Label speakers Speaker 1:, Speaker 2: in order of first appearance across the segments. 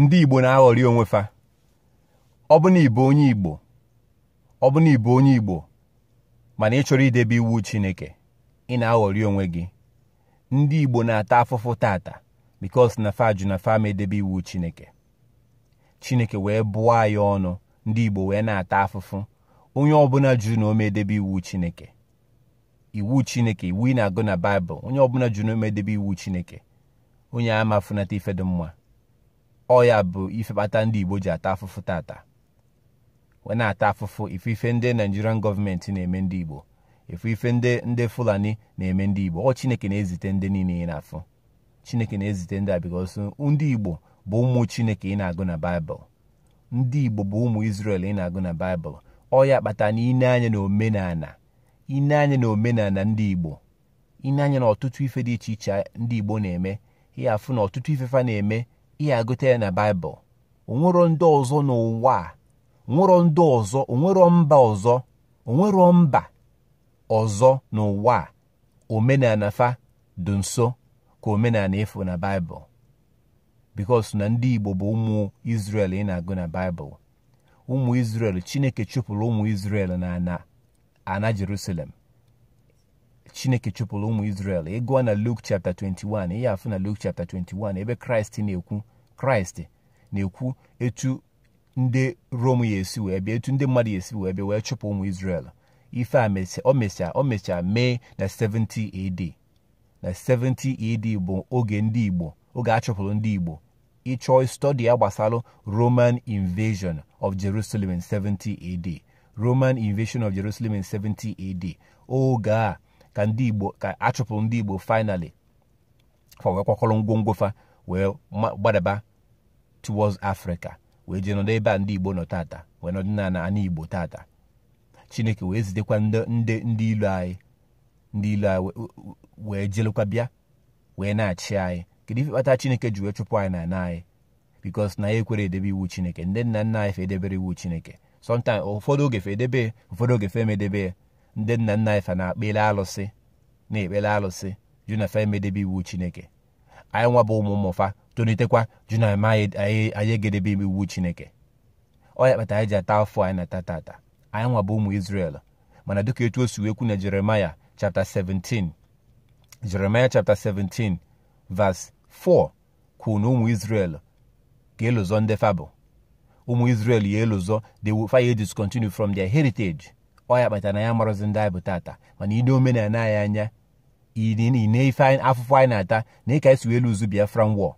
Speaker 1: ndị Igbo na-aghọrị onwe fa ọ bụ na ị bụ onye Igbo ọ bụ na ị bụ onye Igbo mana ị chọrọ idebe iwu Chineke ị na-aghọrị onwe gị ndị Igbo na-ata afụfụ tata because na fa jụ na fa ama edebe iwu Chineke Chineke wee bụọ anyị ọnụ ndị Igbo wee na-ata afụfụ onye ọbụla jụrụ na ọ ma edebe iwu Chineke iwu chineke iwu ị na-agụ na baịbụl onye ọbụla jụrụ na ọ ma edebe iwu chineke onye a ama afụnata ife dị mma ọ ya bụ ife kpata ndị igbo ji ata afụfụ tata wee na-ata afụfụ ife ife ndị Nigerian government na-eme ndị igbo ife ife ndị ndị fulani na-eme ndị igbo ọ chineke na-ezite ndị niile ị na-afụ chineke na-ezite ndị a because ndị igbo bụ ụmụ chineke ị na-agụ na baịbụl ndị igbo bụ ụmụ Izrel ị na-agụ na baịbụl ọ ya kpata na i nee anya na omenala i nee anya na omenala ndị igbo i nee anya na ọtụtụ ife dị iche iche ndị igbo na-eme ị ya-afụ na ọtụtụ ife fa na-eme ị ya-agụta ya na baịbụl o nwerọ ndị ọzọ n'ụwa a o nwerọ ndị ọzọ o nwerọ mba ọzọ o nwerọ mba ọzọ n'ụwa a omenala fa dị nso ka omenala ị fụ na baịbụl because na ndị igbo bụ ụmụ Izrel ị na-agụ na baịbụl ụmụ Izrel chineke chụpụrụ ụmụ Izrel na ana jerusalem chineke chụpụrụ ụmụ Izrel ị gụọ na Luke chapter 21 ị ya-afụ na Luke chapter 21 ebe kraịst na-ekwu kraịst na-ekwu etu ndị rom ya-esi wee bịa etu ndị mmadụ ya-esi wee bịa wee chụpụ ụmụ Izrel ife a o mecha o mecha mee na 70 AD na 70 AD bụ oge ndị Igbo oge a chụpụrụ ndị Igbo ị chọọ study ya gbasara Roman invasion of Jerusalem in 70 AD Roman invasion of Jerusalem in 70 AD oge a ka ndị Igbo ka a chụpụrụ ndị Igbo finally fa wee kwakọrọ ngwongwo fa wee gbadaba towards Africa wee jee nọdụ ebe a ndị Igbo nọ tata wee nọdụ na ana Igbo tata Chineke wee zitekwa ndị ndị ilo anyị ndị ilo anyị wee jelekwa bịa wee na-achị anyị kedu ife kpata Chineke ji wee chụpụ anyị na ana anyị because na anyị ekwerọ edebe iwu Chineke ndị nna nna anyị fa edeberọ iwu Chineke sometimes ụfọdụ oge fa edebe ụfọdụ oge fa ama edebe ya ndị nna nna anyị fa na-ekpele alụsị na-ekpere alụsị jụ na fa ama edebe iwu chineke anyị nwa bụ ụmụ ụmụ fa tolitekwa jụ na anyị aga edebe iwu chineke ọ ya kpata anyị ji ata afụfụ anyị na-ata tata anyị nwa bụ ụmụ Izrel mana dịka etu o si wee kwu na Jeremaya chapter 17 Jeremaya chapter 17 verse 4 kwuru na ụmụ Izrel ga-elozọ ndị fa bụ ụmụ Izrel ya-elozọ they will fa ya discontinue from their heritage ọ ya kpatara na anyị amarọzi ndị anyị bụ tata mana i nee omenala anyị anya ine ife afụfụ anyị na-ata na ka e si wee lose Biafra war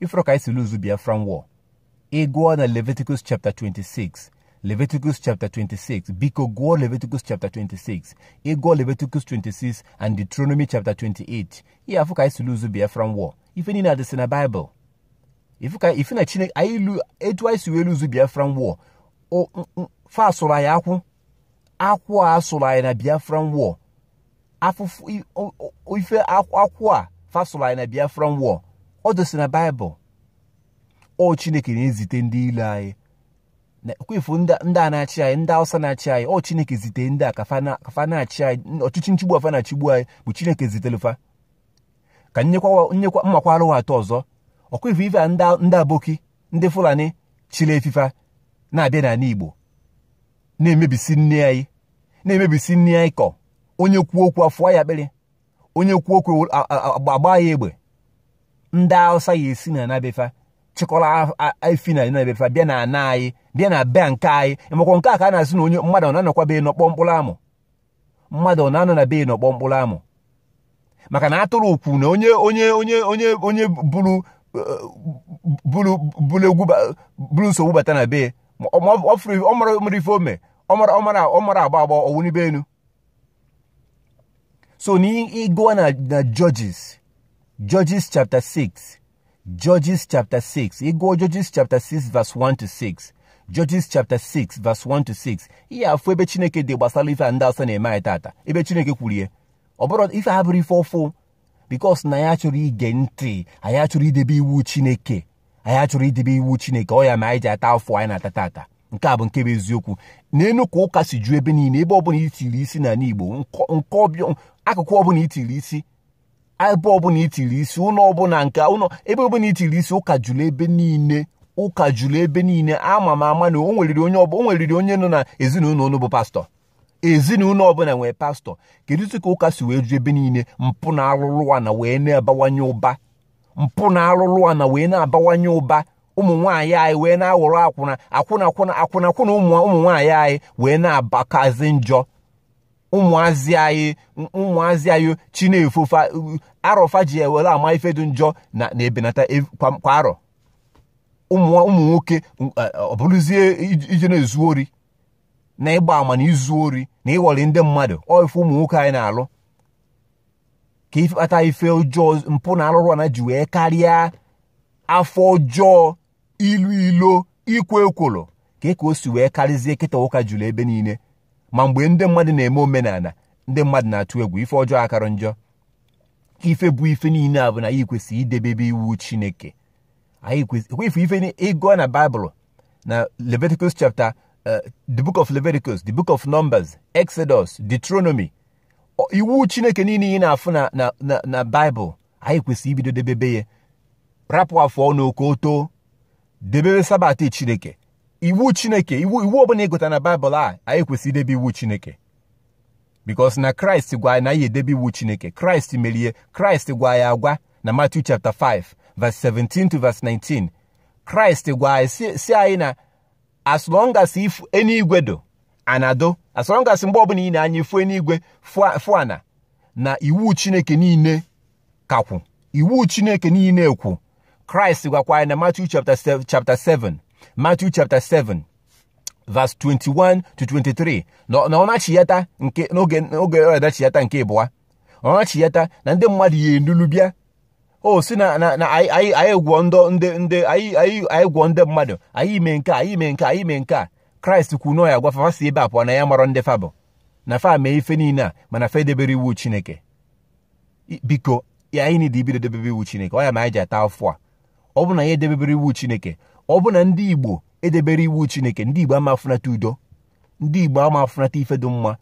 Speaker 1: ị fụrụ ka e si lose Biafra war ị gụọ na Leviticus chapter 26 Leviticus chapter 26 biko gụọ Leviticus chapter 26 ị gụọ Leviticus 26 and Deuteronomy chapter 28 ị ya-afụ ka e si lose Biafra war ife niile adịsị na Bible ife na Chineke anyị lu etu anyị si wee lose Biafra war fa sụrụ anyị akwụ akwụ a a sụrụ anyị na Biafra war afụfụ ife akwụ a fa sụrụ anyị na biafra war ọ dịsị na Bible ọ chineke na-ezite ndị ilo anyị kwa ị fụ ndị a na-achị anyị ndị awụsa na-achị anyị ọ chineke zite ndị a ka fa na-achị anyị ọchịchị nchịgbu a fa na-achịgbu anyị bụ chineke zitelu fa ka nyekwa m makwara ụwa atụ ọzọ ọkwa ị fụ ife ndị aboki ndị fulani chịlị efi fa na-abịa n'ala igbo na-emebisi nni anyị na-emebisi nni anyị kọ onye kwuo okwu a fọọ ya akpịrị onye kwuo okwu a gbaa ya egbe ndị Hausa ya-esi na ana be fa chịkọrọ efi na ana be fa bịa na ana anyị bịa na be nke anyị ịmakwa nke a ka a na-asị na onye mmadụ na-anọkwa be nọkpọọ mkpụrụ amụ mmadụ ọ na-anọ na be e nọkpọọ mkpụrụ amụ maka na a tụrụ okwu na onye onye onye onye onye buru buru buru egwu buru nsogbu bata na be e ọ marọ mere ife o me ọ marọ ọ marọ ọ marọ agba agba ọ wụnibe enu so na ị gụa na na judges judges chapter 6 Judges chapter 6 ị gụọ Judges chapter 6 verse 1 to 6 Judges chapter 6 verse 1 to 6 ị ya-afụ ebe Chineke dee gbasara ife a ndị Hausa na-eme anyị tata ebe Chineke kwuru ya ọ bụrọ ife a bụrọ ife ọfụụ because na anyị achọrọ ige ntị anyị achọrọ idebe iwu Chineke anyị achọrọ idebe iwu Chineke ọ ya me anyị ji ata afụfụ anyị na-ata tata nke a bụ nke bụ eziokwu neenụ ka ụka si ju ebe niile ebe ọbụla i tiri isi n'ala Igbo akụkụ ọbụla i tiri isi ebe ọbụla i tiri isi ụlọ ọbụla nke ụlọ ebe ọbụla i tiri isi ụka juru ebe niile ụka juru ebe niile ama m ama na o nweriri onye ọbụ o nweriri onye nọ na ezinụlọ unu bụ pastọ ezinụlọ ọbụla nwere pastọ kedu ka ụka si wee ju ebe niile mpụ na arụrụ ana wee na-abawanye ụba mpụ na arụrụ ana wee na-abawanye ụba ụmụ nwaanyị anyị wee na-aghọrọ akwụna akwụna akwụna akwụna akwụna ụmụ nwaanyị anyị wee na-abakazi njọ ụmụazị anyị ụmụazị anyị chi na-efo fa arọ fa ji ewere ama ife dị njọ na-ebenata kwa arọ ụmụ nwoke ọ bụrụzie ije na izu ori na ịgba ama na izu ori na ịghọrị ndị mmadụ ọ ife ụmụ nwoke anyị na-alụ ka ife kpata ife ọjọọ mpụ na arụrụ ana ji wee karịa afọ ọjọọ ilu ilo ikwo ekworo ka e ka o si wee karịzie kịta ụka juru ebe niile ma mgbe ndị mmadụ na-eme omenala ndị mmadụ na-atụ egwu ife ọjọọ akarọ njọ ife bụ ife niile a bụ na anyị kwesịrị idebebe iwu chineke anyị kwesịrị ife ife ị gụ na baịbụl na leviticus chapter uh, the book of leviticus the book of numbers exodus deuteronomy iwu chineke niile ị na-afụ na na baịbụl anyị kwesịrị ibido debebe ya rapụ afọ ọnụ ka o too debebe sabat chineke iwu chineke iwu iwu ọbụla ị gụta na baịbụl a anyị kwesịrị idebe iwu chineke because na kraịst gwa anyị na anyị edebe iwu chineke kraịst merie kraịst gwa anyị agwa na Matthew chapter 5 verse 17 to verse 19 kraịst gwa anyị si anyị na as long as eluigwe dụ ana dụ as long as mgbe ọbụla i nee anya ị fụ eluigwe fụ ana na iwu chineke niile ka kwụ iwu chineke niile ekwu kraịst gwakwa anyị na Matthew chapter 7 Matthew chapter 7 verse 21 to 23 na ọ nachiyata nke n'oge ọ nachiyata nke ịbụa ọ nachiyata na ndị mmadụ ya-enulu bịa o si na anyị gwọ ndị ndị anyị gwọ ndị mmadụ anyị mee nke anyị mee nke anyị mee nke a kraịst kwuru na ya gwa fa fa si ebe a pụọ na ya marọ ndị fa bụ na fa mee ife niile a mana fa edeberọ iwu chineke biko ka anyị niile bido debebe iwu chineke ọ ya mee anyị ji ata afụfụ a ọ bụ na anyị edebeberọ iwu chineke ọ bụ na ndị igbo edeberọ iwu chineke ndị igbo ama afụnata udo ndị igbo ama afụnata ife dị mma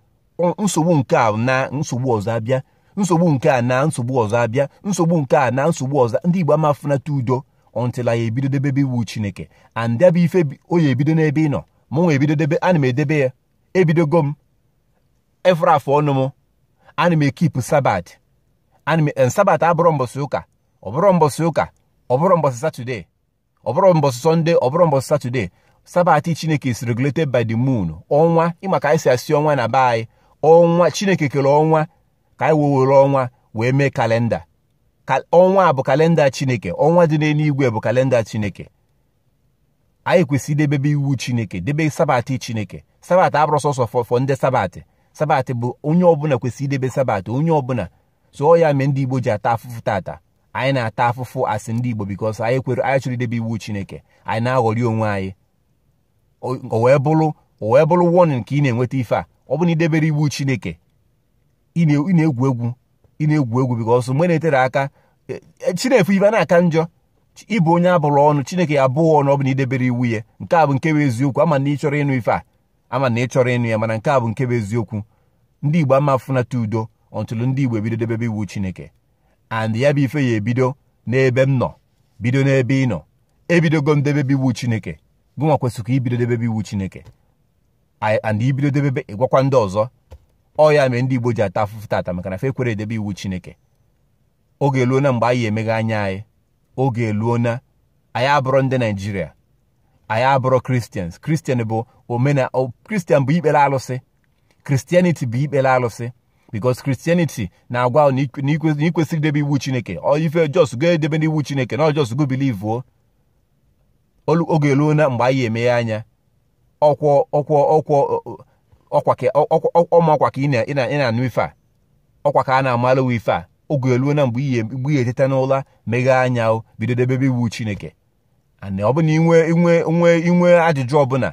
Speaker 1: nsogbu nke a naa nsogbu ọzọ abịa nsogbu nke a naa nsogbu ọzọ abịa nsogbu nke a naa nsogbu ọzọ ndị Igbo ama afụnata udo until anyị ebido debebe iwu Chineke and ya bụ ife ọ ya-ebido n'ebe ị nọ mụ nwa ebido debe ana m edebe ya ebidogo m ị fụrụ afọ ọnụ m ana m ekipụ sabat ana m eh, sabat abụrọ mbọsị ụka ọ bụrọ mbọsị ụka ọ bụrọ mbọsị satọdee ọ bụrọ mbọsị sọnde ọ bụrọ mbọsị satọde sabati chineke is regulated by the moon ọnwa ị ma ka anyị si asị ọnwa na be anyị ọnwa chineke kere ọnwa ka anyị wee were ọnwa wee mee kalenda ọnwa bụ kalenda chineke ọnwa dị n'eluigwe bụ kalenda chineke anyị kwesịrị idebebe iwu chineke debe sabati chineke sabati abụrọ sọsọ for ndị sabati sabati bụ onye ọbụla kwesịrị idebe sabati onye ọbụla so ọ ya mee ndị igbo ji ata afụfụ tata anyị na-ata afụfụ as ndị Igbo because anyị ekwerọ anyị achọrọ idebe iwu Chineke anyị na-aghọrị onwe anyị o wee bụrụ o wee bụrụ warning ka ị na-enweta ife a ọ bụ na i deberọ iwu Chineke ị na-egwu egwu ị na-egwu egwu because mgbe na-eterọ aka e, e, Chineke ife na-aka njọ ị bụ onye a bụrụ ọnụ Chineke ya-abụ gị ọnụ ọ bụ na i deberọ iwu ya nke a bụ nke bụ eziokwu ama m na ị chọrọ ịnụ ife a ama m na ị chọrọ ịnụ ya mana nke a bụ nke bụ eziokwu ndị Igbo ama afụnata udo until ndị Igbo ebido debebe iwu Chineke and ya bụ ife ya ebido n'ebe m nọ bido n'ebe ị nọ ebidogo m debebe iwu chineke gụnwa kwesịrị ka i bido debebe iwu chineke and i bido debebe ị gwakwa ndị ọzọ ọ ya mere ndị igbo ji ata afụfụ tata maka na fa ekwerọ edebe iwu chineke oge eluo na mgbe anyị emeghe anya anyị oge eluo na anyị abụrọ ndị nigeria anyị abụrọ christians christian bụ omena christian bụ ikpere alụsị christianity bụ ikpere alụsị because christianity na-agwa na i kwesịrọ idebe iwu chineke ife just go edebena iwu chineke na just go believe o oge eluo na mgbe anyị emeghe anya ọkwọ ọkwọ ọkwọ ọma ọkwa ka ị na-anụ ife a ọkwa ka a na-amalụ ife a oge eluo na mgbe ị ya-eteta n'ụla meghee anya bido debebe iwu chineke and ọ bụ na inwe inwe inwe inwe ajụjụ ọbụna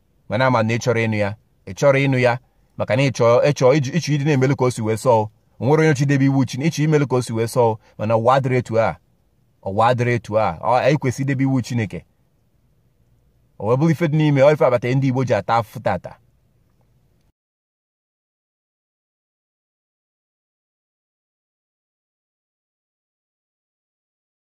Speaker 1: mana ama m na ị chọrọ ịnụ ya ị chọrọ ịnụ ya maka na ịchọ ịchọ ịchọ ịdị na-emelu ka o si wee sọọ onwerọ onye chọ idebe iwu chi ịchọ imelu ka o si wee sọọ mana ụwa adịrọ etu a ụwa adịrọ etu a anyị kwesịrị idebe iwu chineke o wee bụrụ ife dị n'ime ọ ife kpata ndị igbo ji ata afụfụ tata